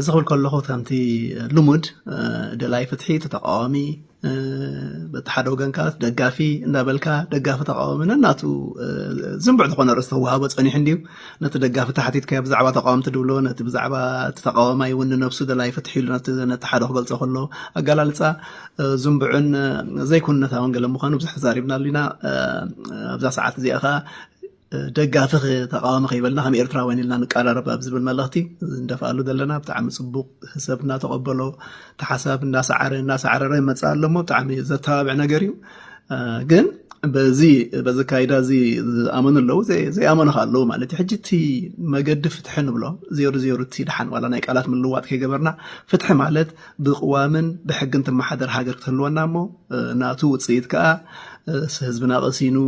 እዚ ክብል ከለኹ ከምቲ ልሙድ ደላይ ፍትሒ እቲ ተቃዋሚ በቲ ሓደ ወገን ከዓ ደጋፊ እንዳበልካ ደጋፊ ተቃዋሚ ነናቱ ዝንቡዕ ዝኾነ ርእሲ ተዋህቦ ፀኒሑ እንድዩ ነቲ ደጋፊ ተሓቲትካዮ ብዛዕባ ተቃወምቲ ድብሎ ነቲ ብዛዕባ እቲ ተቃዋማይ እውን ንነብሱ ደላይ ፍትሒ ኢሉ ነቲ ሓደ ክገልፆ ከሎ ኣገላልፃ ዝንቡዕን ዘይኩነታውን ገለ ምዃኑ ብዙሕ ተዛሪብናሉ ኢና ኣብዛ ሰዓት እዚኣ ከዓ ደጋፊ ተቃዋሚ ከይበልና ከም ኤርትራውያን ኢልና ንቀራረብ ኣብ ዝብል መልእኽቲ እንደፍኣሉ ዘለና ብጣዕሚ ፅቡቅ ሰብ እናተቀበሎ ተሓሳብ እናሰዓረ እናሰዓረረ ይመፅእ ኣሎ እሞ ብጣዕሚ ዘተባብዕ ነገር እዩ ግን በዚ በዚ ካይዳ እዚ ዝኣመኑ ኣለዉ ዘይኣመኑ ከ ኣለዉ ማለት እዩ ሕጂ እቲ መገዲ ፍትሒ ንብሎ ዜሩ ዜሩ እቲ ድሓን ዋላ ናይ ቃላት ምልዋጥ ከይገበርና ፍትሒ ማለት ብቅዋምን ብሕግን ትመሓደር ሃገር ክትህልወና እሞ ናቱ ውፅኢት ከዓ ህዝብና ቀሲኑ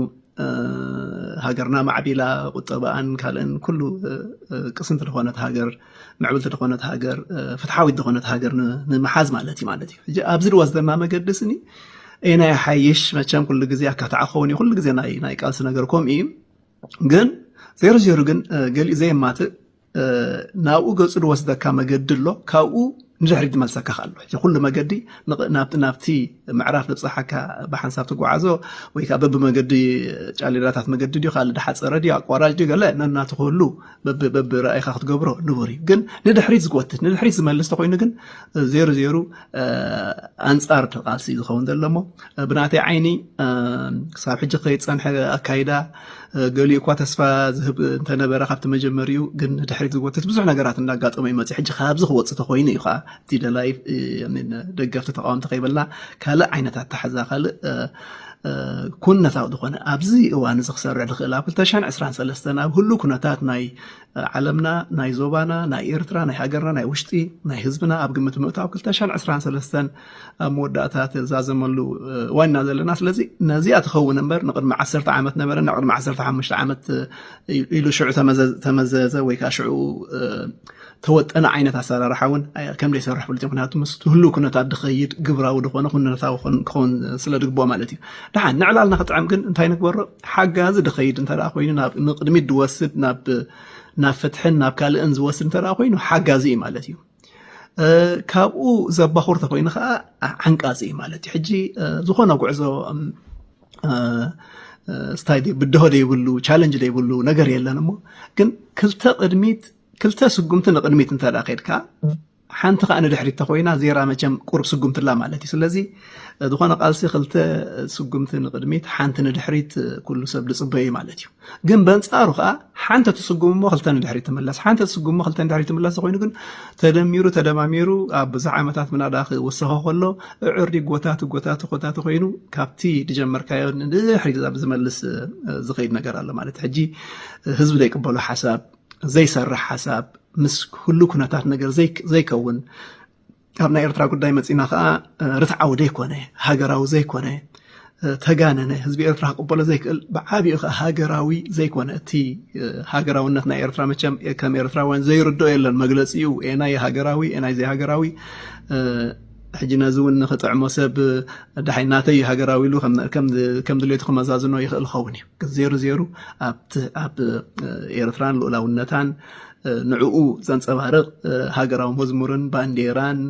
ሃገርና ማዕቢላ ቁጠባኣን ካልእን ኩሉ ቅስንቲ ዝኾነት ሃገር ምዕብልቲ ዝኾነት ሃገር ፍትሓዊት ዝኾነት ሃገር ንምሓዝ ማለት እዩ ማለት እዩ ሕጂ ኣብዚ ዝወስደና መገዲ ስኒ ኤና ይሓይሽ መቸም ኩሉ ግዜ ኣካታዕ ክኸውን እዩ ኩሉ ግዜ ናይ ቃልሲ ነገር ከምኡ እዩ ግን ዜሮ ዜሮ ግን ገሊኡ ዘየማትእ ናብኡ ገጹ ዝወስደካ መገዲ ኣሎ ካብኡ ንድሕሪ ዝመልሰካ ኣሎ እዚ ኩሉ መገዲ ናብቲ ምዕራፍ ዘብፅሓካ ብሓንሳብ ትጓዓዞ ወይ ከዓ በብመገዲ ጫሌራታት መገዲ ድዩ ካልእ ድሓፀረ ድዩ ኣቋራጭ ድዩ ገለ ነናቱ ክህሉ በብራእይካ ክትገብሮ ንቡር እዩ ግን ንድሕሪት ዝጎትት ንድሕሪት ዝመልስ ተኮይኑ ግን ዜሩ ዜሩ ኣንፃር ቃልሲ ዝኸውን ዘሎ እሞ ብናተይ ዓይኒ ክሳብ ሕጂ ከይፀንሐ ኣካይዳ ገሊኡ እኳ ተስፋ ዝህብ እንተነበረ ካብቲ መጀመሪኡ ግን ንድሕሪት ዝጎትት ብዙሕ ነገራት እንዳጋጠመ ይመፅ ሕጂ ካብዚ ክወፅ ተኮይኑ እዩ ከዓ እቲ ደላይ ደገፍቲ ተቃወምቲ ከይበልና ካልእ ዓይነት ኣተሓዛ ካልእ ኩነታዊ ዝኾነ ኣብዚ እዋን እዚ ክሰርዕ ዝኽእል ኣብ 223 ኣብ ህሉ ኩነታት ናይ ዓለምና ናይ ዞባና ናይ ኤርትራ ናይ ሃገርና ናይ ውሽጢ ናይ ህዝብና ኣብ ግምት ምእታው 223 ኣብ መወዳእታ ተዛዘመሉ ዋና ዘለና ስለዚ ነዚኣ ትኸውን እምበር ንቅድሚ ዓሰርተ ዓመት ነበረ ናብ ቅድሚ ዓሰርተ ሓሙሽተ ዓመት ኢሉ ሽዑ ተመዘዘ ወይ ከዓ ሽዑ ተወጠነ ዓይነት ኣሰራርሓ እውን ከም ዘይሰርሕ ፍሉጥ ምክንያቱ ምስ ህሉ ኩነታት ድኸይድ ግብራዊ ድኾነ ኩነታዊ ክኸውን ስለ ድግብኦ ማለት እዩ ድሓን ንዕላልና ክጥዕም ግን እንታይ ንግበሮ ሓጋዚ ድኸይድ እንተ ኮይኑ ንቅድሚት ድወስድ ናብ ፍትሕን ናብ ካልእን ዝወስድ እንተ ኮይኑ ሓጋዚ እዩ ማለት እዩ ካብኡ ዘባኹር ተኮይኑ ከዓ ዓንቃፂ እዩ ማለት እዩ ሕጂ ዝኾነ ጉዕዞ ስታይ ብድሆ ዘይብሉ ቻለንጅ ዘይብሉ ነገር የለን እሞ ግን ክልተ ቅድሚት ክልተ ስጉምቲ ንቅድሚት እንተ ከድካ ሓንቲ ከዓ ንድሕሪት ተኮይና ዜራ መቸም ቁርብ ስጉምቲ ኣላ ማለት እዩ ስለዚ ዝኾነ ቃልሲ ክልተ ስጉምቲ ንቅድሚት ሓንቲ ንድሕሪት ኩሉ ሰብ ዝፅበዩ ማለት እዩ ግን በንጻሩ ከዓ ሓንቲ ትስጉም እሞ ክልተ ንድሕሪ ትምለስ ሓንቲ ትስጉም እሞ ክልተ ንድሕሪ ትምለስ ኮይኑ ግን ተደሚሩ ተደማሚሩ ኣብ ብዙሕ ዓመታት ምናዳ ክውሰኾ ከሎ እዕሪ ጎታቲ ጎታቲ ጎታቲ ኮይኑ ካብቲ ድጀመርካዮ ንድሕሪ ዝመልስ ዝኸይድ ነገር ኣሎ ማለት ሕጂ ህዝቢ ዘይቅበሎ ሓሳብ ዘይሰርሕ ሓሳብ ምስ ኩሉ ኩነታት ነገር ዘይከውን ካብ ናይ ኤርትራ ጉዳይ መጺና ከዓ ርትዓዊ ዘይኮነ ሃገራዊ ዘይኮነ ተጋነነ ህዝቢ ኤርትራ ክቕበሎ ዘይክእል ብዓብኡ ከዓ ሃገራዊ ዘይኮነ እቲ ሃገራውነት ናይ ኤርትራ መቸም ከም ኤርትራውያን ዘይርድኦ የለን መግለፂኡ ኤናይ ሃገራዊ ኤናይ ዘይሃገራዊ ሕጂ ነዚ እውን ንክጥዕሞ ሰብ ዳሓይ ናተይ ሃገራዊ ኢሉ ከም ድሌቱ ክመዛዝኖ ይኽእል ኸውን እዩ ግን ዜሩ ዜሩ ኣብ ኤርትራን ልኡላውነታን ንዕኡ ዘንጸባርቕ ሃገራዊ መዝሙርን ባንዴራን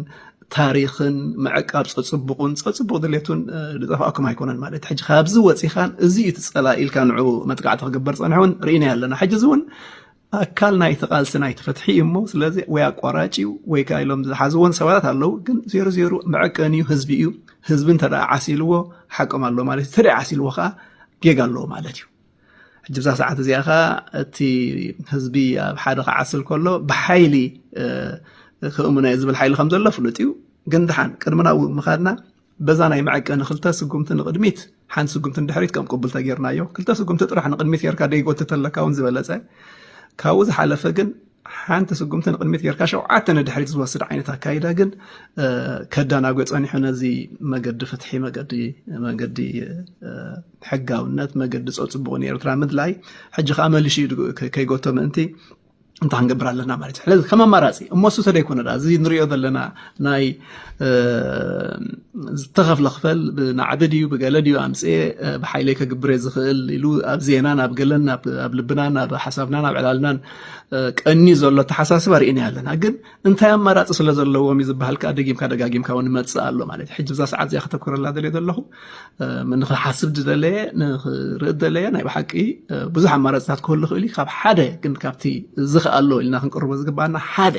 ታሪኽን ምዕቃብ ጸጽቡቑን ጸጽቡቕ ድሌቱን ዝጠፋእኩም ኣይኮነን ማለት እዩ ሕጂ ካብዚ ወፂኻን እዚ እዩ ትጸላ ኢልካ ንዑ መጥቃዕቲ ክግበር ጸንሐ እውን ርኢናዮ ኣለና ሕጂ እዚ እውን ኣካል ናይቲ ቃልሲ ናይቲ ፍትሒ እዩ እሞ ስለዚ ወይ ኣቋራጭ እዩ ወይ ከዓ ኢሎም ዝሓዝዎን ሰባታት ኣለዉ ግን ዜሩ ዜሩ መዕቀኒ እዩ ህዝቢ እዩ ህዝቢ እንተ ዓሲልዎ ሓቆም ኣሎ ማለት እዩ እንተ ዓሲልዎ ከዓ ጌጋ ኣለዎ ማለት እዩ ሕጂ ብዛ ሰዓት እዚኣ ከኣ እቲ ህዝቢ ኣብ ሓደ ክዓስል ከሎ ብሓይሊ ክእምኖ እየ ዝብል ሓይሊ ከም ዘሎ ፍሉጥ እዩ ግን ድሓን ቅድሚ ናብኡ ምኻድና በዛ ናይ መዐቀኒ ክልተ ስጉምቲ ንቕድሚት ሓንቲ ስጉምቲ ንድሕሪት ከም ቅቡል ተጌርናዮ ክልተ ስጉምቲ ጥራሕ ንቕድሚት ጌርካ ደይጎትተለካ እውን ዝበለፀ ካብኡ ዝሓለፈ ግን ሓንቲ ስጉምቲ ንቅድሚት ጌርካ ሸውዓተ ንድሕሪት ዝወስድ ዓይነት ኣካይዳ ግን ከዳናጎ ጸኒሑ ነዚ መገዲ ፍትሒ መገዲ መገዲ ሕጋውነት መገዲ ጸጽቡቕ ንኤርትራ ምድላይ ሕጂ ከዓ መሊሹ ከይጎቶ ምእንቲ እንታይ ክንገብር ኣለና ማለት እዩ ስለዚ ከም ኣማራፂ እሞ እሱ ተደይኮነ ዳ እዚ ንሪኦ ዘለና ናይ ዝተኸፍለ ክፈል ብናዕቢ ድዩ ብገለ ድዩ ኣምፅኤ ብሓይለይ ከግብረ ዝኽእል ኢሉ ኣብ ዜናን ኣብ ገለን ኣብ ልብናን ኣብ ሓሳብናን ኣብ ዕላልናን ቀንዩ ዘሎ ኣተሓሳስባ ርኢናዮ ኣለና ግን እንታይ ኣማራፂ ስለ ዘለዎም እዩ ዝበሃል ከዓ ደጊምካ ደጋጊምካ እውን ይመፅእ ኣሎ ማለት እዩ ሕጂ ብዛ ሰዓት እዚኣ ከተኩረላ ደልየ ዘለኹ ንክሓስብ ዝደለየ ንክርኢ ደለየ ናይ ብሓቂ ብዙሕ ኣማራፅታት ክህሉ ክእል ካብ ሓደ ግን ካብቲ ዝክኣሎ ኢልና ክንቅርቦ ዝግባኣና ሓደ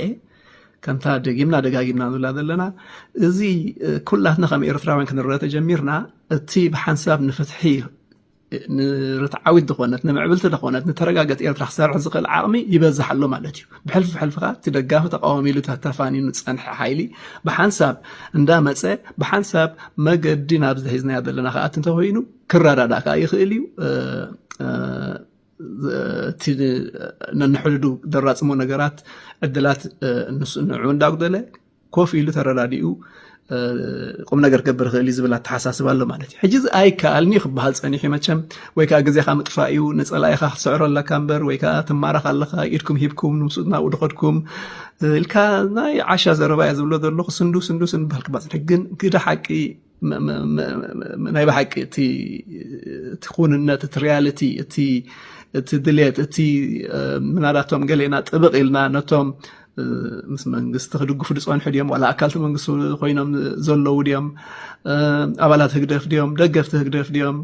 ከምታ ደጊምና ደጋጊምና ንብላ ዘለና እዚ ኩላትና ከም ኤርትራውያን ክንረአ ተጀሚርና እቲ ብሓንሳብ ንፍትሒ ንርትዓዊት ዝኾነት ንምዕብልቲ ዝኾነት ንተረጋገት ኤርትራ ክሰርሕ ዝኽእል ዓቕሚ ይበዝሕ ኣሎ ማለት እዩ ብሕልፊ ብሕልፊ ከዓ እቲ ደጋፊ ተቃዋሚ ኢሉ ተተፋኒኑ ዝፀንሐ ሓይሊ ብሓንሳብ እንዳመፀ ብሓንሳብ መገዲ ናብ ዝሒዝናዮ ዘለና ከዓ እቲ እንተኮይኑ ክረዳዳእ ከዓ ይኽእል እዩ እቲ ነንሕድዱ ደራፅሞ ነገራት ዕድላት ንሱ ንዑ እንዳጉደለ ኮፍ ኢሉ ተረዳዲኡ ቁም ነገር ክገብር ይኽእል እዩ ዝብል ኣተሓሳስባ ኣሎ ማለት እዩ ሕጂ እዚ ኣይከኣልኒ እዩ ክበሃል ፀኒሑ እዩ መቸም ወይ ከዓ ግዜካ ምጥፋእ እዩ ንፀላኢኻ ክትስዕሮ ኣለካ እምበር ወይ ከዓ ትማረኽ ኣለካ ኢድኩም ሂብኩም ንምስኡ ናብኡ ድኸድኩም ኢልካ ናይ ዓሻ ዘረባ እየ ዝብሎ ዘለኹ ስንዱ ስንዱ ስንዱ በሃል ክበሃል ግን ግደ ሓቂ ናይ ብሓቂ እቲ ኩንነት እቲ ሪያልቲ እቲ እቲ ድሌት እቲ ምናዳቶም ገሌና ጥብቕ ኢልና ነቶም ምስ መንግስቲ ክድግፉ ዝፀንሑ ድዮም ዋላ ኣካልቲ መንግስቲ ኮይኖም ዘለዉ ድዮም ኣባላት ህግደፍ ድዮም ደገፍቲ ህግደፍ ድዮም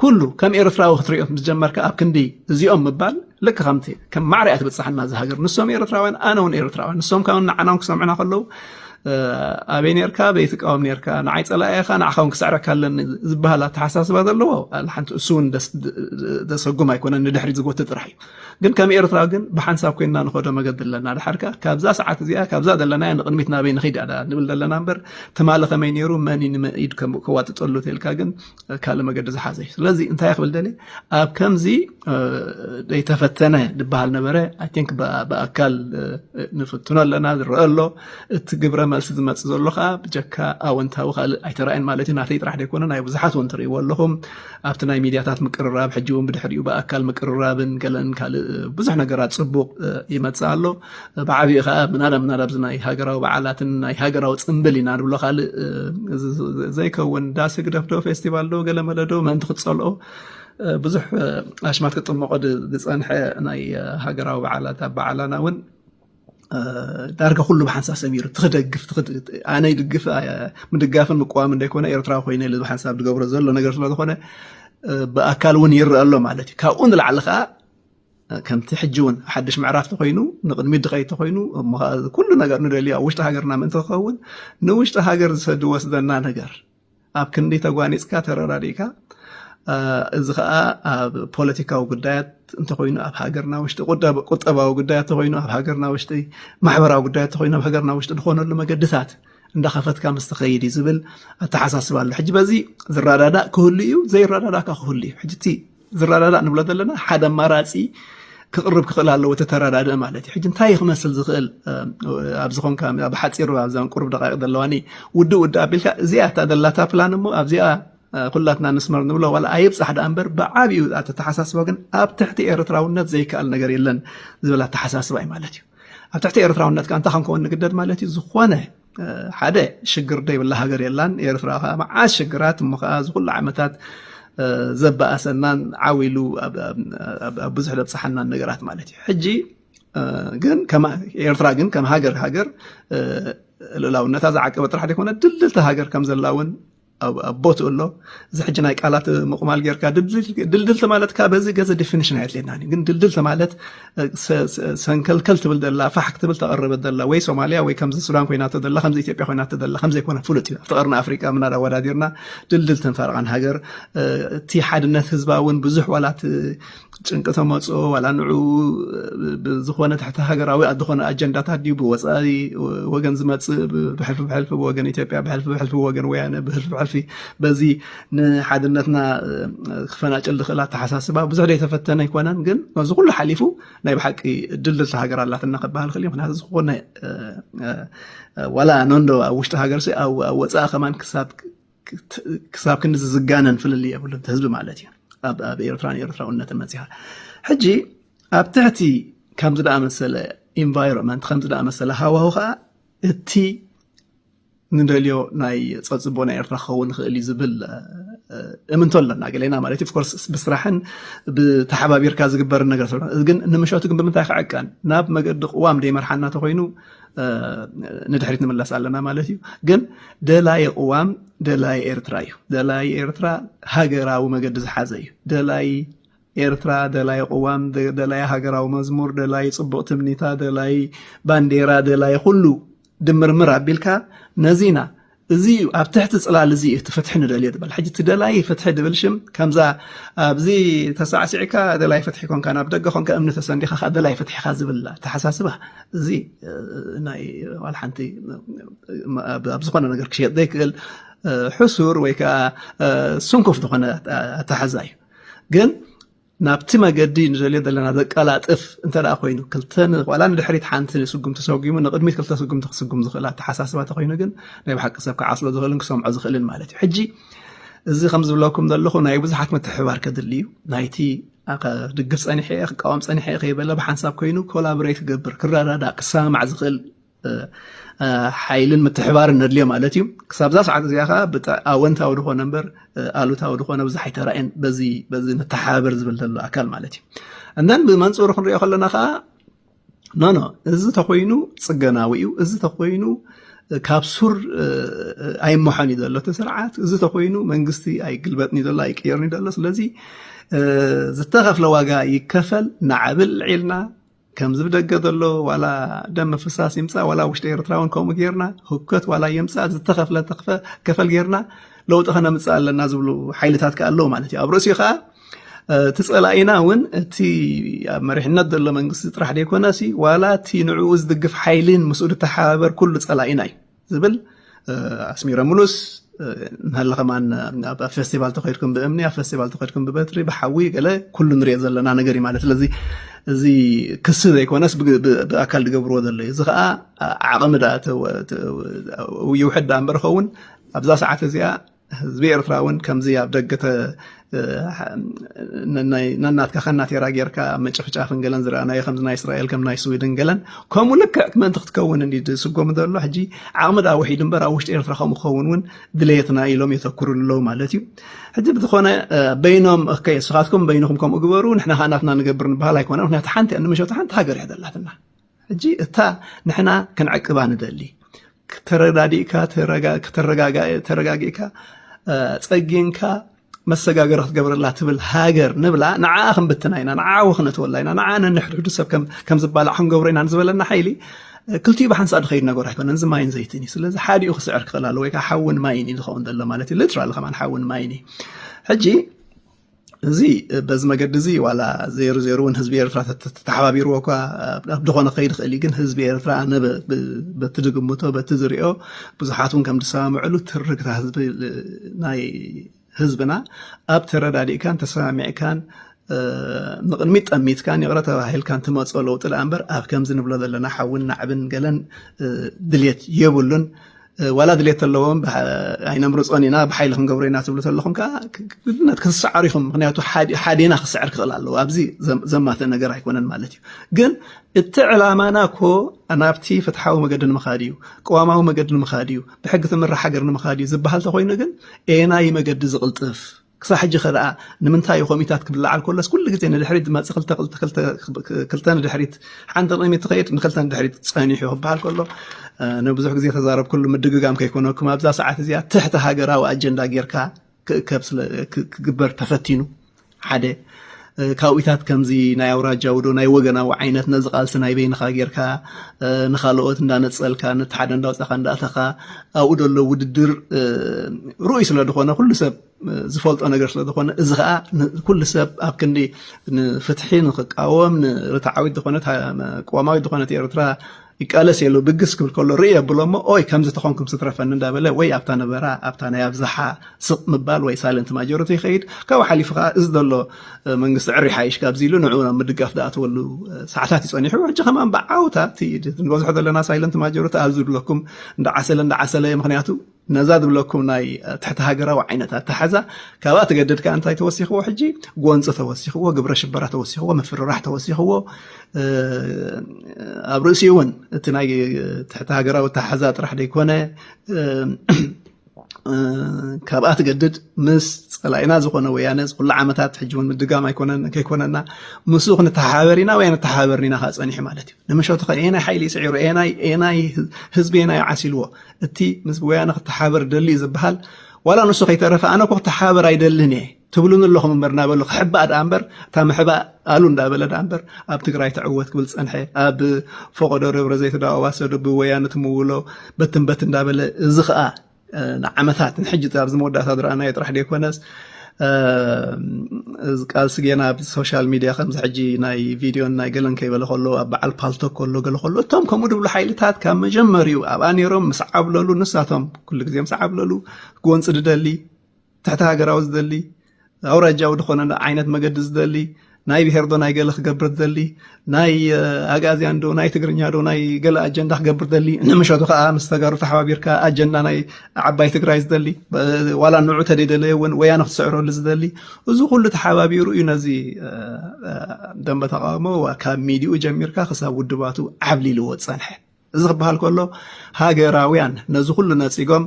ኩሉ ከም ኤርትራዊ ክትሪኦ ምስ ጀመርካ ኣብ ክንዲ እዚኦም ምባል ልክ ከምቲ ከም ማዕርያ ትብፅሓና እዚ ሃገር ንሶም ኤርትራውያን ኣነ እውን ኤርትራውያን ንሶም ካብ ንዓና ክሰምዑና ከለዉ ኣበይ ነርካ በይ ትቃወም ነርካ ንዓይ ፀላኢ ኢኻ ንዓኻ ውን ክስዕረካ ኣለኒ ዝበሃል ኣተሓሳስባ ዘለዎ ሓንቲ እሱ ውን ደሰጉም ኣይኮነን ንድሕሪ ዝጎትት ጥራሕ እዩ ግን ከም ኤርትራ ግን ብሓንሳብ ኮይንና ንኸዶ መገዲ ኣለና ድሓርካ ካብዛ ሰዓት እዚኣ ካብዛ ዘለና ንቅድሚት ናበይ ንኸይድ ንብል ዘለና እምበር ትማሊ ከመይ ነይሩ መን ንመኢድ ከዋጥጠሉ ተልካ ግን ካልእ መገዲ ዝሓዘ እዩ ስለዚ እንታይ ክብል ደልየ ኣብ ከምዚ ዘይተፈተነ ዝበሃል ነበረ ኣይንክ ብኣካል ንፍትኖ ኣለና ዝረአ ኣሎ እቲ ግብረ መልሲ ዝመፅእ ዘሎ ከዓ ብጀካ ኣወንታዊ ካልእ ኣይተረኣየን ማለት እዩ ናተይ ጥራሕ ዘይኮነ ናይ ብዙሓት እውን ትርእይዎ ኣለኹም ኣብቲ ናይ ሚድያታት ምቅርራብ ሕጂ እውን ብድሕሪኡ ብኣካል ምቅርራብን ገለን ካልእ ብዙሕ ነገራት ፅቡቅ ይመፅእ ኣሎ ብዓቢኡ ከኣ ምናዳ ምናዳ ኣብዚ ናይ ሃገራዊ በዓላትን ናይ ሃገራዊ ጽምብል ኢና ንብሎ ካልእ ዘይከውን ዳስ ህግደፍ ዶ ፌስቲቫል ዶ ገለመለ ዶ ምእንቲ ክትጸልኦ ብዙሕ ኣሽማት ክጥመቆ ዝጸንሐ ናይ ሃገራዊ በዓላት ኣብ በዓላና እውን ዳርጋ ኩሉ ብሓንሳብ ሰሚሩ ትክደግፍ ኣነ ይድግፍ ምድጋፍን ምቅዋም እንደይኮነ ኤርትራዊ ኮይነ ኢሉ ብሓንሳብ ዝገብሮ ዘሎ ነገር ስለዝኮነ ብኣካል እውን ይረአ ኣሎ ማለት እዩ ካብኡ ንላዕሊ ከዓ ከምቲ ሕጂ እውን ሓድሽ ምዕራፍ ተኮይኑ ንቅድሚት ድኸይ ተኮይኑ እሞ ከዓ ኩሉ ነገር ንደልዮ ኣብ ውሽጢ ሃገርና ምእንቲ ክኸውን ንውሽጢ ሃገር ዝወስደና ነገር ኣብ ክንዲ ተጓኒፅካ ተረዳዲእካ እዚ ከዓ ኣብ ፖለቲካዊ ጉዳያት እንተኮይኑ ኣብ ሃገርና ውሽጢ ቁጠባዊ ጉዳያት ተኮይኑ ኣብ ሃገርና ውሽጢ ማሕበራዊ ጉዳያት ተኮይኑ ኣብ ሃገርና ውሽጢ ዝኾነሉ መገድታት እንዳኸፈትካ ምስ ትኸይድ እዩ ዝብል ኣተሓሳስባ ኣሎ ሕጂ በዚ ዝረዳዳእ ክህሉ እዩ ዘይረዳዳእካ ክህሉ እዩ ሕጂ ዝረዳዳእ ንብሎ ዘለና ሓደ ኣማራፂ ክቕርብ ክኽእል ኣለዎ እቲ ተረዳድእ ማለት እዩ ሕጂ እንታይ እዩ ክመስል ዝኽእል ኣብዚ ኮንካ ኣብ ሓፂሩ ኣብዛን ቁርብ ደቃቂ ዘለዋኒ ውድእ ውድእ ኣቢልካ እዚኣ እታ ዘላታ ፕላን እሞ ኣብዚኣ ኩላትና ንስመር ንብሎ ዋላ ኣይብፃሕ ደኣ እምበር ብዓብኡ ኣተተሓሳስባ ግን ኣብ ትሕቲ ኤርትራውነት ዘይከኣል ነገር የለን ዝብል ኣተሓሳስባ እዩ ማለት እዩ ኣብ ትሕቲ ኤርትራውነት ከ እንታይ ክንከውን ንግደድ ማለት እዩ ዝኾነ ሓደ ሽግር ደይብላ ሃገር የላን ኤርትራ ከዓ መዓት ሽግራት እሞ ከዓ እዚ ኩሉ ዓመታት ዘበኣሰናን ዓው ኢሉ ኣብ ብዙሕ ዘብፅሓናን ነገራት ማለት እዩ ሕጂ ግን ኤርትራ ግን ከም ሃገር ሃገር ልእላውነታ ዝዓቀበ ጥራሕ ዘይኮነ ድልድልቲ ሃገር ከም ዘላ እውን ኣብ ቦትኡ ኣሎ እዚ ሕጂ ናይ ቃላት ምቕማል ጌርካ ድልድል ተማለትካ በዚ ገዘ ዲፊኒሽን ኣየድልየናን ግን ድልድል ተማለት ሰንከልከል ትብል ዘላ ፋሕ ክትብል ተቐረበት ዘላ ወይ ሶማልያ ወይ ከምዚ ሱዳን ኮይናቶ ዘላ ከምዚ ኢትዮጵያ ኮይናቶ ዘላ ከምዘይኮነ ፍሉጥ እዩ ኣብቲ ቀርኒ ኣፍሪቃ ምናዳ ኣወዳዲርና ድልድል ተንፈርቓን ሃገር እቲ ሓድነት ህዝባ እውን ብዙሕ ዋላት ጭንቂ ተመፅኦ ዋላ ንዑ ብዝኾነ ትሕቲ ሃገራዊ ዝኾነ ኣጀንዳታት ድዩ ብወፃኢ ወገን ዝመፅእ ብሕልፊ ብሕልፊ ወገን ኢትዮጵያ ብሕልፊ ብሕልፊ ወገን ወያነ ብሕልፊ ብሕልፊ በዚ ንሓድነትና ክፈናጭል ዝኽእል ኣተሓሳስባ ብዙሕ ዘይተፈተነ ኣይኮነን ግን እዚ ኩሉ ሓሊፉ ናይ ብሓቂ ድልድልቲ ሃገር ኣላትና ክበሃል ክእል ምክንያቱ ዝኾነ ዋላ ነንዶ ኣብ ውሽጢ ሃገር ኣብ ወፃኢ ከማን ክሳብ ክሳብ ክንዲ ዝጋነን ፍልልይ የብሉን እቲ ህዝቢ ማለት እዩ ኣብ ኤርትራን ኤርትራውነትን መፅኻ ሕጂ ኣብ ትሕቲ ከምዚ ደኣ መሰለ ኢንቫይሮንመንት ከምዚ ደኣ መሰለ ሃዋሁ ከዓ እቲ ንደልዮ ናይ ፀፅቦ ናይ ኤርትራ ክኸውን ይኽእል እዩ ዝብል እምንቶ ኣለና ገሌና ማለት እዩ ኮርስ ብስራሕን ብተሓባቢርካ ዝግበር ነገር ግን ንምሸቱ ግን ብምንታይ ክዕቀን ናብ መገዲ ቅዋም ደይመርሓና ተኮይኑ ንድሕሪት ንምለስ ኣለና ማለት እዩ ግን ደላይ ቅዋም ደላይ ኤርትራ እዩ ደላይ ኤርትራ ሃገራዊ መገዲ ዝሓዘ እዩ ደላይ ኤርትራ ደላይ ቅዋም ደላይ ሃገራዊ መዝሙር ደላይ ፅቡቅ ትምኒታ ደላይ ባንዴራ ደላይ ኩሉ ድምርምር ኣቢልካ ነዚና እዚ እዩ ኣብ ትሕቲ ፅላል እዚ እዩ እቲ ፍትሒ ንደልዮ ዝበል ሕጂ እቲ ደላይ ፍትሒ ድብል ሽም ከምዛ ኣብዚ ተሳዕሲዕካ ደላይ ፍትሒ ኮንካ ናብ ደገ ኮንካ እምኒ ተሰንዲኻ ከዓ ደላይ ፍትሒ ኢኻ ዝብል ኣተሓሳስባ እዚ ናይ ዋላ ሓንቲ ኣብ ዝኾነ ነገር ክሸየጥ ዘይክእል ሕሱር ወይ ከዓ ስንኩፍ ዝኾነ ኣተሓዛ እዩ ግን ናብቲ መገዲ ንደልዮ ዘለና ዘቀላጥፍ እንተ ኮይኑ ክልተ ዋላ ንድሕሪት ሓንቲ ንስጉም ተሰጉሙ ንቅድሚት ክልተ ስጉምቲ ክስጉም ዝኽእል ኣተሓሳስባ እንተኮይኑ ግን ናይ ብሓቂ ሰብ ክዓስሎ ዝኽእልን ክሰምዖ ዝኽእልን ማለት እዩ ሕጂ እዚ ከም ዝብለኩም ዘለኹ ናይ ብዙሓት ምትሕባር ከድሊ እዩ ናይቲ ድግፍ ፀኒሐ እየ ክቃወም ፀኒሐ እየ ከይበለ ብሓንሳብ ኮይኑ ኮላቦሬት ክገብር ክረዳዳእ ክሰማማዕ ዝኽእል ሓይልን ምትሕባርን ነድልዮ ማለት እዩ ክሳብዛ ሰዓት እዚኣ ከዓ ብጣ ኣወንታዊ ድኮነ እምበር ኣሉታዊ ድኮነ ብዙሕ ኣይተራእየን በዚ በዚ ንተሓባበር ዝብል ዘሎ ኣካል ማለት እዩ እንደን ብመንፅሩ ክንሪኦ ከለና ከዓ ኖኖ እዚ ተኮይኑ ፅገናዊ እዩ እዚ ተኮይኑ ካብ ሱር ኣይመሖን እዩ ዘሎ እቲ ስርዓት እዚ ተኮይኑ መንግስቲ ኣይግልበጥን እዩ ዘሎ ኣይቅየርን እዩ ዘሎ ስለዚ ዝተኸፍለ ዋጋ ይከፈል ናዓብል ዒልና ከምዚ ብደገ ዘሎ ዋላ ደም ምፍሳስ ይምፃእ ዋላ ውሽጢ ኤርትራ እውን ከምኡ ጌርና ህከት ዋላ የምፃእ ዝተኸፍለ ከፈል ጌርና ለውጢ ከነምፅእ ኣለና ዝብሉ ሓይልታት ከ ኣለዉ ማለት እዩ ኣብ ርእሲኡ ከዓ እቲ ፀላኢና እውን እቲ ኣብ መሪሕነት ዘሎ መንግስቲ ጥራሕ ዘይኮነሲ ዋላ እቲ ንዕኡ ዝድግፍ ሓይሊን ምስኡ ዝተሓባበር ኩሉ ፀላኢና እዩ ዝብል ኣስሚረምሉስ ንሃለ ከማን ኣብ ፌስቲቫል ተኸድኩም ብእምኒ ኣብ ፌስቲቫል ተኸድኩም ብበትሪ ብሓዊ ገለ ኩሉ ንሪኦ ዘለና ነገር እዩ ማለት ስለዚ እዚ ክሲ ዘይኮነስ ብኣካል ዝገብርዎ ዘሎ እዩ እዚ ከዓ ዓቕሚ ዳ ይውሕድ ዳ እምበር ኸውን ኣብዛ ሰዓት እዚኣ ህዝቢ ኤርትራ እውን ከምዚ ኣብ ደገ ነናትካ ከናቴራ ጌርካ ምጭፍጫፍን ገለን ዝረኣናዮ ከምዚ ናይ እስራኤል ከም ናይ ስዊድን ገለን ከምኡ ልክዕ ምእንቲ ክትከውን እንዲ ዝስጎም ዘሎ ሕጂ ዓቕሚ ዳ ውሒዱ እምበር ኣብ ውሽጢ ኤርትራ ከምኡ ክኸውን እውን ድሌትና ኢሎም የተክሩ ኣለዉ ማለት እዩ ሕጂ ብዝኾነ በይኖም ከ ስኻትኩም በይንኹም ከምኡ ግበሩ ንሕና ከዓ ናትና ንገብር ንበሃል ኣይኮነ ምክንያቱ ሓንቲ ንመሸቱ ሓንቲ ሃገር እያ ዘላትና ሕጂ እታ ንሕና ክንዕቅባ ንደሊ ተረዳዲእካ ተረጋጊእካ ጸጊንካ መሰጋገሪ ክትገብረላ ትብል ሃገር ንብላ ንዓኣ ክንብትና ኢና ንዓኣ ወክነትወላ ኢና ንዓኣ ነንሕድሕዱ ሰብ ከም ዝባላዕ ክንገብሮ ኢና ንዝበለና ሓይሊ ክልቲኡ ብሓንሳእ ድኸይድ ነገር ኣይኮነን እዚ ማይን ዘይትን እዩ ስለዚ ሓዲኡ ክስዕር ክኽእል ኣለዎ ወይ ከዓ ሓውን ማይን እዩ ዝኸውን ዘሎ ማለት እዩ ሊትራሊ ከማን ሓውን ማይን እዩ ሕጂ እዚ በዚ መገዲ እዚ ዋላ ዜሩ ዜሩ እውን ህዝቢ ኤርትራ ተተሓባቢርዎ እኳ ኣብ ድኾነ ከይድ ኽእል እዩ ግን ህዝቢ ኤርትራ ነበ በቲ ዝግምቶ በቲ ዝሪኦ ብዙሓት እውን ከም ዝሰማምዕሉ ትርግታ ህዝቢ ናይ ህዝብና ኣብ ተረዳዲእካን ተሰማሚዕካን ንቕድሚት ጠሚትካን ይቕረ ተባሂልካን ትመፆ ለውጢ ደኣ እምበር ኣብ ከምዚ ንብሎ ዘለና ሓውን ናዕብን ገለን ድልየት የብሉን ዋላ ድሌት ኣለዎም ኣይነምርፆን ኢና ብሓይሊ ክንገብሮ ኢና ትብሉ ተለኹም ከዓ ግድነት ክትሰዓሩ ኢኹም ምክንያቱ ሓዴና ክስዕር ክኽእል ኣለዎ ኣብዚ ዘማተ ነገር ኣይኮነን ማለት እዩ ግን እቲ ዕላማና እኮ ናብቲ ፍትሓዊ መገዲ ንምኻድ እዩ ቅዋማዊ መገዲ ንምኻድ እዩ ብሕጊ ትምራሕ ሃገር ንምኻድ እዩ ዝበሃል ተኮይኑ ግን ኤናይ መገዲ ዝቕልጥፍ ክሳዕ ሕጂ ከ ደኣ ንምንታይ እዩ ኮሚታት ክብለዓል ከሎስ ኩሉ ግዜ ንድሕሪት ዝመጽእ ክልተ ክልተ ክልተ ክልተ ንድሕሪት ሓንቲ ቅድሚት ትኸይድ ንክልተ ንድሕሪት ጸኒሑ ክበሃል ከሎ ንብዙሕ ግዜ ተዛረብኩሉ ምድግጋም ከይኮነኩም ኣብዛ ሰዓት እዚኣ ትሕቲ ሃገራዊ ኣጀንዳ ጌርካ ክእከብ ስለ ክግበር ተፈቲኑ ሓደ ካብኢታት ከምዚ ናይ ኣውራጃዊ ዶ ናይ ወገናዊ ዓይነት ነዚ ቃልሲ ናይ በይንኻ ጌርካ ንካልኦት እንዳነፀልካ ነቲ ሓደ እንዳውፃኻ እንዳእተኻ ኣብኡ ደሎ ውድድር ርኡይ ስለ ዝኾነ ኩሉ ሰብ ዝፈልጦ ነገር ስለ ዝኾነ እዚ ከዓ ኩሉ ሰብ ኣብ ክንዲ ንፍትሒ ንክቃወም ንርትዓዊት ዝኾነት ቅዋማዊት ዝኾነት ኤርትራ ይቃለስ እየ ኢሉ ብግስ ክብል ከሎ ርእየ ኣብሎ እሞ ኦይ ከምዚ ተኾንኩም ስትረፈኒ እንዳበለ ወይ ኣብታ ነበራ ኣብታ ናይ ኣብዝሓ ስቕ ምባል ወይ ሳይለንት ማጆሪቲ ይኸይድ ካብኡ ሓሊፉ ከዓ እዚ ዘሎ መንግስቲ ዕሪ ሓይሽ ካብዚ ኢሉ ንዕኡ ናብ ምድጋፍ ዝኣተወሉ ሰዓታት እዩ ፀኒሑ ሕጂ ከማን ብዓውታ እቲ ንበዝሖ ዘለና ሳይለንት ማጆሪቲ ኣብዚ ዝብለኩም እንዳዓሰለ እንዳዓሰለ ምክንያቱ ነዛ ዝብለኩም ናይ ትሕቲ ሃገራዊ ዓይነት ኣተሓዛ ካብኣ ተገደድካ እንታይ ተወሲኽዎ ሕጂ ጎንፂ ተወሲኽዎ ግብረ ሽበራ ተወሲኽዎ ምፍርራሕ ተወሲኽዎ ኣብ ርእሲ እውን እቲ ናይ ትሕቲ ሃገራዊ ኣተሓዛ ጥራሕ ዘይኮነ ካብኣ ትገድድ ምስ ፀላኢና ዝኾነ ወያነ ዝኩሉ ዓመታት ሕጂ እውን ምድጋም ኣይኮነን ከይኮነና ምስ ክንተሓባበር ኢና ወይ ንተሓባበርኒና ከዓ ፀኒሑ ማለት እዩ ንምሸቱ ከ ኤናይ ሓይሊ ስዒሩ ኤናይ ህዝቢ ኤናይ ዓሲልዎ እቲ ምስ ወያነ ክተሓበር ደልዩ ዝበሃል ዋላ ንሱ ከይተረፈ ኣነ እኮ ክተሓባበር ኣይደልን እየ ትብሉን ኣለኹም እምበር እናበሉ ክሕባእ ደኣ እምበር እታ ምሕባእ ኣሉ እንዳበለ ደኣ እምበር ኣብ ትግራይ ትዕወት ክብል ዝፀንሐ ኣብ ፈቆዶ ደብረ ዘይት ዳዋሰዶ ብወያነ ትምውሎ በትን በት እንዳበለ እዚ ከዓ ንዓመታት ንሕጂ ኣብዚ መወዳእታ ዝረኣናዮ ጥራሕ ደይኮነስ ቃልሲ ጌና ኣብ ሶሻል ሚድያ ከምዚ ሕጂ ናይ ቪድዮን ናይ ገለን ከይበለ ከሎ ኣብ በዓል ፓልቶ ከሎ ገለ ከሎ እቶም ከምኡ ድብሉ ሓይልታት ካብ መጀመርዩ ኣብኣ ነይሮም ምስ ዓብለሉ ንሳቶም ኩሉ ግዜ ምስ ዓብለሉ ጎንፂ ዝደሊ ትሕቲ ሃገራዊ ዝደሊ ኣውራጃዊ ዝኾነ ዓይነት መገዲ ዝደሊ ናይ ብሄር ዶ ናይ ገለ ክገብር ዝደሊ ናይ ኣግኣዝያን ዶ ናይ ትግርኛ ዶ ናይ ገለ ኣጀንዳ ክገብር ዝደሊ ንምሸቱ ከዓ ምስ ተጋሩ ተሓባቢርካ ኣጀንዳ ናይ ዓባይ ትግራይ ዝደሊ ዋላ ንዑ ተደይደለየ እውን ወያነ ክትስዕረሉ ዝደሊ እዚ ኩሉ ተሓባቢሩ እዩ ነዚ ደንበ ተቃውሞ ካብ ሚዲኡ ጀሚርካ ክሳብ ውድባቱ ዓብሊልዎ ዝፀንሐ እዚ ክበሃል ከሎ ሃገራውያን ነዚ ኩሉ ነጺጎም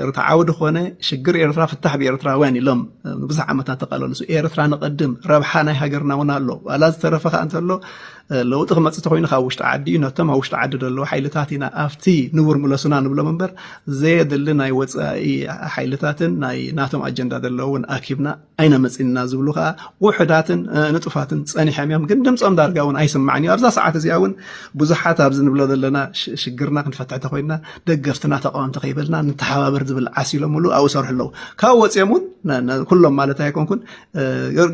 ርትዓዊ ድኾነ ሽግር ኤርትራ ፍታሕ ብኤርትራውያን ኢሎም ንብዙሕ ዓመታት ተቃለልሱ ኤርትራ ንቐድም ረብሓ ናይ ሃገርና እውን ኣሎ ዋላ ዝተረፈ ከዓ እንተሎ ለውጢ ክመፅእ ተኮይኑ ካብ ውሽጢ ዓዲ እዩ ነቶም ኣብ ውሽጢ ዓዲ ዘለዉ ሓይልታት ኢና ኣብቲ ንቡር ምለሱና ንብሎም እምበር ዘየድሊ ናይ ወፃኢ ሓይልታትን ናይ ናቶም ኣጀንዳ ዘለውን ኣኪብና ኣይነምጽን ኢና ዝብሉ ከኣ ውሑዳትን ንጡፋትን ጸኒሖም እዮም። ግን ድምጾም ዳርጋ እውን ኣይስማዕን እዩ። ኣብዛ ሰዓት እዚኣ እውን ብዙሓት ኣብዚ ንብሎ ዘለና ሽግርና ክንፈትሕ ተኮይንና ደገፍትና ተቃወምቲ ከይበልና ንተሓባበር ዝብል ዓስ ኢሎምሉ ኣብኡ ይሰርሑ ኣለዉ። ካብኡ ወጺኦም እውን ኩሎም ማለት ኣይኮንኩን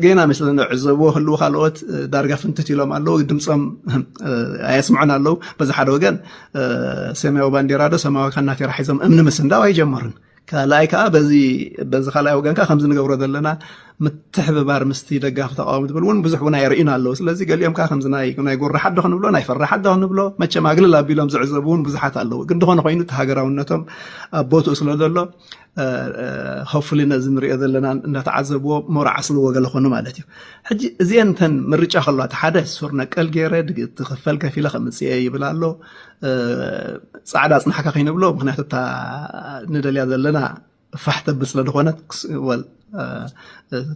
ጌና ምስ ንዕዘብዎ ህልዉ ካልኦት ዳርጋ ፍንትት ኢሎም ኣለዉ። ድምጾም ኣየስምዑን ኣለዉ። በዚ ሓደ ወገን ሰማያዊ ባንዴራ ዶ ሰማያዊ ካናቴራ ሒዞም እምኒ ምስንዳው ኣይጀመሩን። ካልኣይ ከዓ በዚ በዚ ካልኣይ ወገን ከዓ ከምዚ ንገብሮ ዘለና ምትሕብባር ምስቲ ደጋፊ ተቃዋሚ ትብል እውን ብዙሕ እውን ኣየርእዩን ኣለዉ ስለዚ ገሊኦም ከዓ ከምዚ ናይ ናይ ጎራ ሓዶ ክንብሎ ናይ ፈራ ሓዶ ክንብሎ መቸም ኣግልል ኣቢሎም ዝዕዘቡ እውን ብዙሓት ኣለዉ ግን ዝኾነ ኮይኑ እቲ ሃገራውነቶም ኣብ ቦትኡ ስለ ዘሎ ሆፍሊ ነዚ ንሪኦ ዘለና እንዳተዓዘብዎ ሞራ ዓስልዎ ገለ ኮኑ ማለት እዩ ሕጂ እዚአን እተን ምርጫ ከለዋ እቲ ሓደ ሱር ነቀል ገይረ ትኽፈል ከፊለ ከምፅኤ ይብል ኣሎ ጻዕዳ ኣጽናሕካ ከይንብሎ ምክንያቱ እታ ንደልያ ዘለና ፋሕ ተብል ስለ ዝኾነት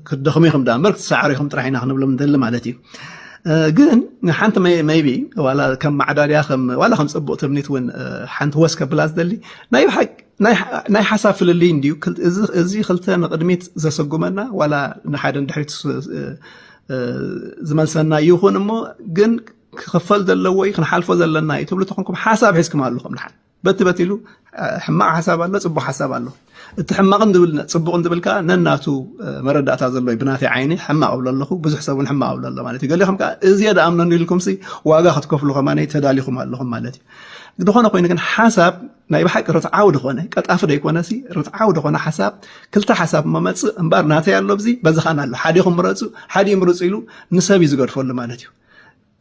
ክትደኽሙ ኢኹም ዳ እምበር ክትሰዓሩ ኢኹም ጥራሕ ኢና ክንብሎም ንደሊ ማለት እዩ ግን ሓንቲ መይቢ ዋላ ከም ማዕዳድያ ዋላ ከም ፅቡቅ ትምኒት እውን ሓንቲ ወስ ከብላ ዝደሊ ናይ ሓሳብ ፍልልይ እንድዩ እዚ ክልተ ንቅድሚት ዘሰጉመና ዋላ ንሓደ ንድሕሪት ዝመልሰና ይኹን እሞ ግን ክኽፈል ዘለዎ እዩ ክንሓልፎ ዘለና እዩ ትብሉ ተኾንኩም ሓሳብ ሒዝኩም ኣለኹም ድሓን በቲ በቲ ኢሉ ሕማቕ ሓሳብ ኣሎ ፅቡቅ ሓሳብ ኣሎ እቲ ሕማቕን ዝብል ፅቡቕን ዝብል ከዓ ነናቱ መረዳእታ ዘሎ እዩ ብናተይ ዓይኒ ሕማቕ እብሎ ኣለኹ ብዙሕ ሰብ እውን ሕማቕ እብሎ ኣሎ ማለት እዩ ገሊኹም ከዓ እዝየ ደኣምነኑ ኢልኩምሲ ዋጋ ክትከፍሉ ከማነ ተዳሊኹም ኣለኹም ማለት እዩ ዝኾነ ኮይኑ ግን ሓሳብ ናይ ብሓቂ ርትዓዊ ዝኾነ ቀጣፊ ደይኮነ ሲ ርትዓዊ ዝኾነ ሓሳብ ክልተ ሓሳብ መመፅእ እምበር ናተይ ኣሎ ብዚ በዚ ኻን ኣሎ ሓዲኹም ምረፁ ሓዲ ምርፁ ኢሉ ንሰብ እዩ ዝገድፈሉ ማለት እዩ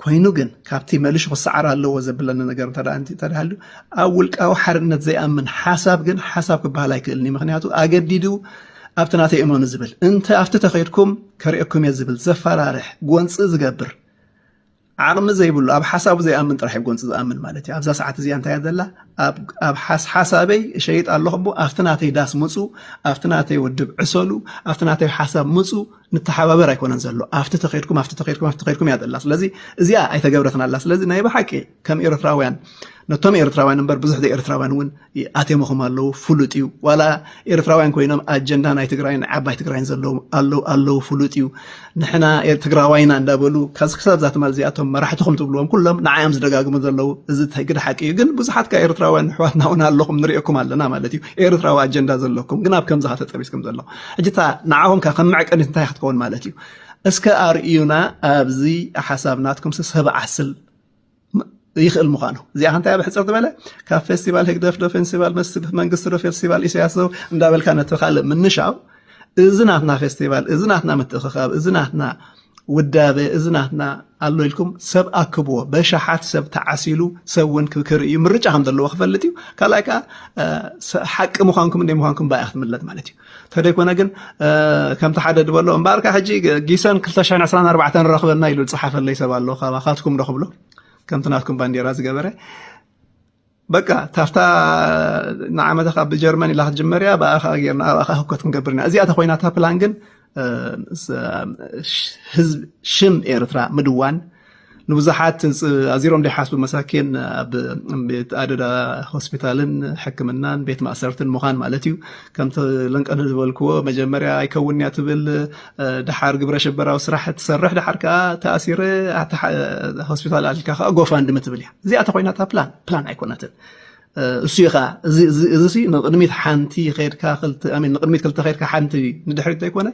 ኮይኑ ግን ካብቲ መልሹ ክሰዓር ኣለዎ ዘብለኒ ነገር እንተ ተዳሃሉ ኣብ ውልቃዊ ሓርነት ዘይኣምን ሓሳብ ግን ሓሳብ ክበሃል ኣይክእልን እዩ ምክንያቱ ኣገዲዱ ኣብቲ ናተይ እመኑ ዝብል እንተ ኣብቲ ተኸይድኩም ከሪኦኩም እየ ዝብል ዘፈራርሕ ጎንፂ ዝገብር ዓቕሚ ዘይብሉ ኣብ ሓሳቡ ዘይኣምን ጥራሕ እዩ ጎንፂ ዝኣምን ማለት እዩ ኣብዛ ሰዓት እዚኣ እንታይ ዘላ ኣብ ሓሳበይ እሸይጥ ኣለኹ እሞ ኣብቲ ናተይ ዳስ ምፁ ኣብቲ ናተይ ውድብ ዕሰሉ ኣብቲ ናተይ ሓሳብ ምፁ ንተሓባበር ኣይኮነን ዘሎ ኣብቲ ተኸድኩም ኣብቲ ተኸድኩም ኣብቲ ተኸድኩም እያ ዘላ ስለዚ እዚኣ ኣይተገብረትን ኣላ ስለዚ ናይ ብሓቂ ከም ኤርትራውያን ነቶም ኤርትራውያን እምበር ብዙሕ ዘይኤርትራውያን እውን ኣቴምኹም ኣለዉ ፍሉጥ እዩ ዋላ ኤርትራውያን ኮይኖም ኣጀንዳ ናይ ትግራይን ዓባይ ትግራይን ዘለዎም ኣለዉ ኣለዉ ፍሉጥ እዩ ንሕና ትግራዋይና እንዳበሉ ካብዚ ክሳብ እዛ ትማል እዚኣቶም መራሕትኹም ትብልዎም ኩሎም ንዓዮም ዝደጋግሙ ዘለዉ እዚ ግደ ሓቂ እዩ ግን ብዙሓት ካብ ኤርትራውያን ኣሕዋትና እውን ኣለኹም ንሪኦኩም ኣለና ማለት እዩ ኤርትራዊ ኣጀንዳ ዘለኩም ግን ኣብ ከምዚ ተጠቢስኩም ዘለኹም ሕጂ እታ ንዓኹም ከ ከም መዕቀኒት እንታይ ክትከውን ማለት እዩ? እስከ ኣርእዩና ኣብዚ ሓሳብ ናትኩምሲ ሰብ ዓስል ይኽእል ምዃኑ እዚኣ ከንታይ ኣብ ሕፅር ዝበለ ካብ ፌስቲቫል ህግደፍ ዶ ፌስቲቫል መንግስቲ ዶ ፌስቲቫል ኢሳያስ ዶ እንዳበልካ ነቲ ካልእ ምንሻው እዚ ናትና ፌስቲቫል እዚ ናትና ምትእኽኻብ እዚ ናትና ውዳበ እዚ ናትና ኣሎ ኢልኩም ሰብ ኣክብዎ። በሽሓት ሰብ ተዓሲሉ ሰብ እውን ክርኢ እዩ። ምርጫ ከም ዘለዎ ክፈልጥ እዩ። ካልኣይ ከዓ ሓቂ ምዃንኩም እንደ ምዃንኩም ባያ ክትምለጥ ማለት እዩ። ተደይኮነ ግን ከምቲ ሓደ ድበሎ እምበኣርካ ሕጂ ጊሰን 224 ንረኽበና ኢሉ ዝፀሓፈለይ ሰብ ኣሎ ካባኻትኩም ዶ ክብሎ ከምቲ ናትኩም ባንዴራ ዝገበረ በቃ ታፍታ ንዓመታ ካብ ብጀርመን ኢላ ክትጅመር እያ ብኣ ከዓ ጌርና ኣብኣ ከዓ ህውከት ክንገብር ኢና እዚኣ ተኮይና እታ ፕላን ግን ህዝብ ሽም ኤርትራ ምድዋን ንብዙሓት ኣዚሮም ዘይሓስቡ መሳኪን ኣብ ቤት ኣደዳ ሆስፒታልን ሕክምናን ቤት ማእሰርትን ምዃን ማለት እዩ ከምቲ ለንቀን ዝበልክዎ መጀመርያ ኣይከውን እያ ትብል ድሓር ግብረ ሽበራዊ ስራሕ ትሰርሕ ድሓር ከዓ ተኣሲረ ሆስፒታል ኣልካ ከዓ ጎፋንድሚ ትብል እያ እዚኣ ተኾይና እታ ፕላን ፕላን ኣይኮነትን እሱ እዩ ከዓ እዚ ንቅድሚት ሓንቲ ከድካ ንቅድሚት ክልተ ከድካ ሓንቲ ንድሕሪት ዘይኮነ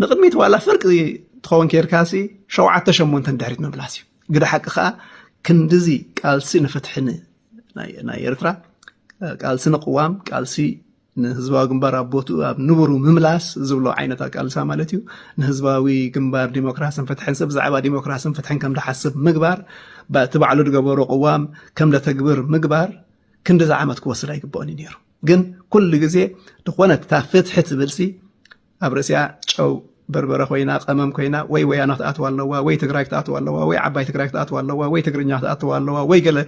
ንቅድሚት ዋላ ፍርቂ ትኸውን ከድካ ሲ ሸውዓተ ሸሞንተ ንድሕሪት ምምላስ እዩ ግደ ሓቂ ከዓ ክንዲዚ ቃልሲ ንፍትሒ ናይ ኤርትራ ቃልሲ ንቅዋም ቃልሲ ንህዝባዊ ግንባር ኣብ ቦትኡ ኣብ ንቡሩ ምምላስ ዝብሎ ዓይነት ኣቃልሳ ማለት እዩ ንህዝባዊ ግንባር ዲሞክራስን ፍትሕን ሰብ ብዛዕባ ዲሞክራስን ፍትሕን ከም ድሓስብ ምግባር እቲ ባዕሉ ዝገበሮ ቅዋም ከም ደተግብር ምግባር ክንዲ ዝዓመት ክወስድ ኣይግበኦን እዩ ነይሩ ግን ኩሉ ግዜ ዝኾነት እታ ፍትሒ ትብልሲ ኣብ ርእሲኣ ጨው በርበረ ኮይና ቀመም ኮይና ወይ ወያነ ክትኣትው ኣለዋ ወይ ትግራይ ክትኣትው ኣለዋ ወይ ዓባይ ትግራይ ክትኣትው ኣለዋ ወይ ትግርኛ ክትኣትው ኣለዋ ወይ ገለ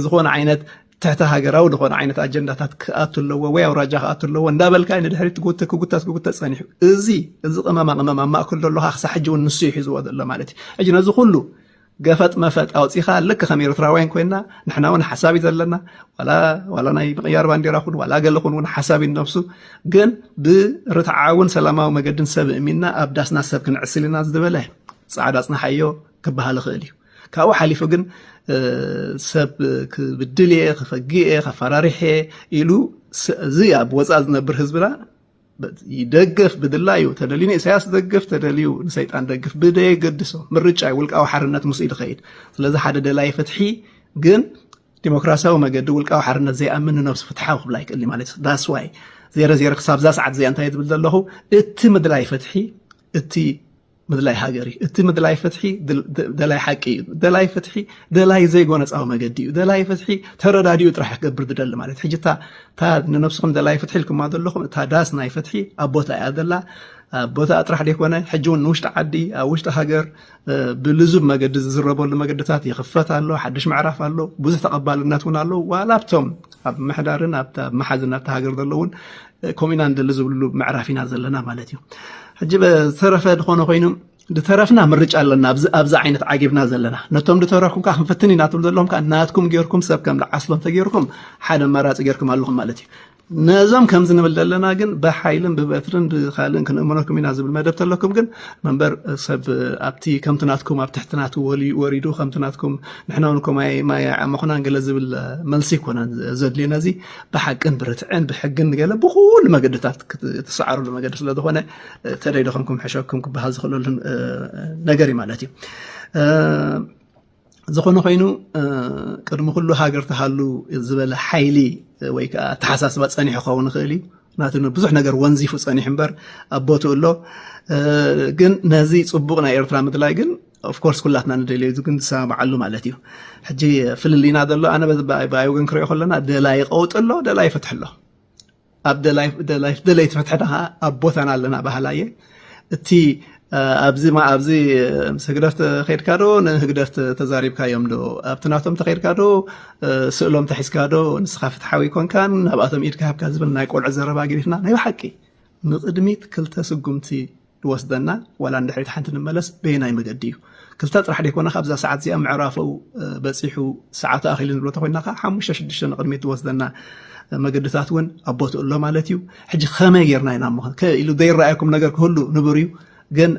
ዝኾነ ዓይነት ትሕቲ ሃገራዊ ዝኾነ ዓይነት ኣጀንዳታት ክኣቱ ኣለዎ ወይ ኣውራጃ ክኣቱ ኣለዎ እንዳበልካ ንድሕሪት ትጉተ ክጉተት ክጉተት ጸኒሑ እዚ እዚ ቅመማ ቅመም ኣብ ማእከል ዘሎ ክሳብ ሕጂ እውን ንሱ ይሒዝዎ ዘሎ ማለት እዩ ሕጂ ነዚ ኩሉ ገፈጥ መፈጥ ኣውፂኻ ልክ ከም ኤርትራውያን ኮይና ንሕና እውን ሓሳብ እዩ ዘለና ዋላ ናይ ምቕያር ባንዴራ ኹን ዋላ ገለ ኹን እውን ሓሳብ እዩ ነብሱ ግን ብርትዓውን ሰላማዊ መገድን ሰብ እሚንና ኣብ ዳስና ሰብ ክንዕስል ኢና ዝበለ ፃዕዳ ፅናሓዮ ክበሃል ይኽእል እዩ ካብኡ ሓሊፉ ግን ሰብ ክብድል እየ ክፈግእ እየ ከፈራርሕ እየ ኢሉ እዚ ኣብ ወፃእ ዝነብር ህዝብና ይደግፍ ብድላዩ ተደልዩ ንኢሳያስ ደግፍ ተደልዩ ንሰይጣን ደግፍ ብደየገድሶ ምርጫ እዩ ውልቃዊ ሓርነት ምስ ይድኸይድ ስለዚ ሓደ ደላይ ፍትሒ ግን ዲሞክራሲያዊ መገዲ ውልቃዊ ሓርነት ዘይኣምን ንነብሱ ፍትሓዊ ክብላ ይክእል ማለት እዩ ዳስዋይ ዜረ ዜረ ክሳብዛ ሰዓት እዚኣ እንታይ ዝብል ዘለኹ እቲ ምድላይ ፍትሒ እቲ ምድላይ ሃገር እዩ እቲ ምድላይ ፍትሒ ደላይ ሓቂ እዩ ደላይ ፍትሒ ደላይ ዘይጎነፃዊ መገዲ እዩ ደላይ ፍትሒ ተረዳዲኡ ጥራሕ ክገብር ዝደሊ ማለት ሕጂ እታ ንነብስኹም ደላይ ፍትሒ ኢልኩማ ዘለኹም እታ ዳስ ናይ ፍትሒ ኣብ ቦታ እያ ዘላ ኣብ ቦታ ጥራሕ ዘይኮነ ሕጂ እውን ንውሽጢ ዓዲ ኣብ ውሽጢ ሃገር ብልዙብ መገዲ ዝዝረበሉ መገድታት ይኽፈት ኣሎ ሓድሽ ምዕራፍ ኣሎ ብዙሕ ተቐባልነት እውን ኣሎ ዋላ ኣብቶም ኣብ ምሕዳርን ኣብ መሓዝን ኣብቲ ሃገር ዘለውን ከምኡ ኢና ንደሊ ዝብልሉ ምዕራፍ ኢና ዘለና ማለት እዩ ሕጂ ዝተረፈ ዝኾነ ኮይኑ ዝተረፍና ምርጫ ኣለና ኣብዚ ዓይነት ዓጊብና ዘለና ነቶም ዝተረፍኩም ከዓ ክንፍትን ኢና ትብሉ ዘለኹም ከዓ ናትኩም ጌርኩም ሰብ ከም ዝዓስሎ እንተጌርኩም ሓደ ኣማራፂ ጌርኩም ኣለኹም ማለት እዩ ነዞም ከምዚ ንብል ዘለና ግን ብሓይልን ብበትርን ብካልእን ክንእምነኩም ኢና ዝብል መደብ ተለኩም ግን መንበር ሰብ ኣብቲ ከምቲ ናትኩም ኣብ ትሕቲ ናት ወሪዱ ከምቲ ናትኩም ንሕና ውን ኮማይ ማይ ዓመኹናን ገለ ዝብል መልሲ ይኮነን ዘድልየና እዚ ብሓቅን ብርትዕን ብሕግን ገለ ብኩሉ መገድታት ትሰዓረሉ መገዲ ስለዝኾነ ተደይደኹም ክምሕሸኩም ክበሃል ዝኽእለሉ ነገር እዩ ማለት እዩ ዝኾነ ኮይኑ ቅድሚ ኩሉ ሃገር ተሃሉ ዝበለ ሓይሊ ወይ ከዓ ኣተሓሳስባ ፀኒሑ ክኸውን ይኽእል እዩ ናቲ ብዙሕ ነገር ወንዚፉ ፀኒሑ እምበር ኣብ ቦትኡ ኣሎ ግን ነዚ ፅቡቕ ናይ ኤርትራ ምድላይ ግን ኦፍኮርስ ኩላትና ንደልዮ እዚ ግን ዝሰማምዓሉ ማለት እዩ ሕጂ ፍልልይና ዘሎ ኣነ ብኣይ ወገን ክሪኦ ከለና ደላይ ቀውጢ ኣሎ ደላይ ፍትሒ ኣሎ ኣብ ደለይቲ ፍትሒ ድኻ ኣብ ቦታና ኣለና ባህላ እየ እቲ ኣብዚ ኣብዚ ምስ ህግደፍ ተኸድካ ዶ ንህግደፍ ተዛሪብካዮም ዶ ኣብቲ ናቶም ተኸድካ ዶ ስእሎም ተሒዝካ ዶ ንስኻ ፍትሓዊ ኮንካን ናብኣቶም ኢድካ ሃብካ ዝብል ናይ ቆልዑ ዘረባ ገዲፍና ናይ ብሓቂ ንቕድሚት ክልተ ስጉምቲ ዝወስደና ዋላ ንድሕሪት ሓንቲ ንመለስ በየናይ መገዲ እዩ ክልተ ጥራሕ ደይኮነ ካብዛ ሰዓት እዚኣ ምዕራፈው በፂሑ ሰዓቱ ኣኺሉ ንብሎ ተኮይና ከዓ ሓሙሽተ ሽዱሽተ ንቕድሚት ዝወስደና መገድታት እውን ኣብ ቦትኡ ኣሎ ማለት እዩ ሕጂ ከመይ ጌርና ኢና ሞ ኢሉ ዘይረኣየኩም ነገር ክህሉ ንቡር እዩ ግን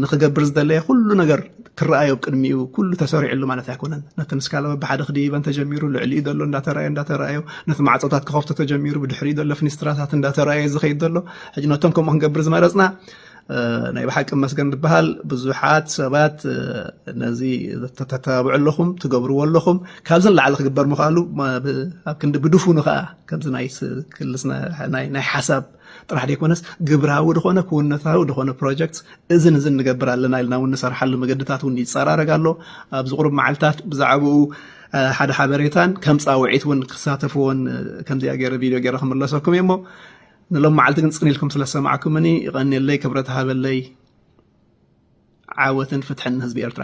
ንክገብር ዝደለየ ኩሉ ነገር ክረኣዮ ኣብ ቅድሚኡ ኩሉ ተሰሪዕሉ ማለት ኣይኮነን ነቲ ንስካላ በብሓደ ክድይበን ተጀሚሩ ልዕሊኡ ዘሎ እንዳተረኣዮ እንዳተረኣዮ ነቲ ማዕፆታት ክኸፍቶ ተጀሚሩ ብድሕሪኡ ዘሎ ፍኒስትራታት እንዳተረኣየ ዝኸይድ ዘሎ ሕጂ ነቶም ከምኡ ክንገብር ዝመረፅና ናይ ብሓቂ መስገን ዝበሃል ብዙሓት ሰባት ነዚ ተተባብዑ ኣለኹም ትገብርዎ ኣለኹም ካብዚ ንላዕሊ ክግበር ምኽኣሉ ኣብ ክንዲ ብድፉኑ ከዓ ከምዚ ናይ ክልስ ናይ ሓሳብ ጥራሕ ደይኮነስ ግብራዊ ድኾነ ክውንነታዊ ድኾነ ፕሮጀክት እዝን እዝን ንገብር ኣለና ኢልና እውን ንሰርሓሉ መገድታት እውን ይፀራረግ ኣሎ ኣብዚ ቁሩብ መዓልትታት ብዛዕባኡ ሓደ ሓበሬታን ከም ፃውዒት እውን ክሳተፍዎን ከምዚኣ ገይረ ቪድዮ ገይረ ክምለሰኩም እየ እሞ ንሎም መዓልቲ ግን ፅን ኢልኩም ስለሰማዕኩምኒ ይቐንየለይ ክብረት ሃበለይ ዓወትን ፍትሕን ንህዝቢ ኤርትራ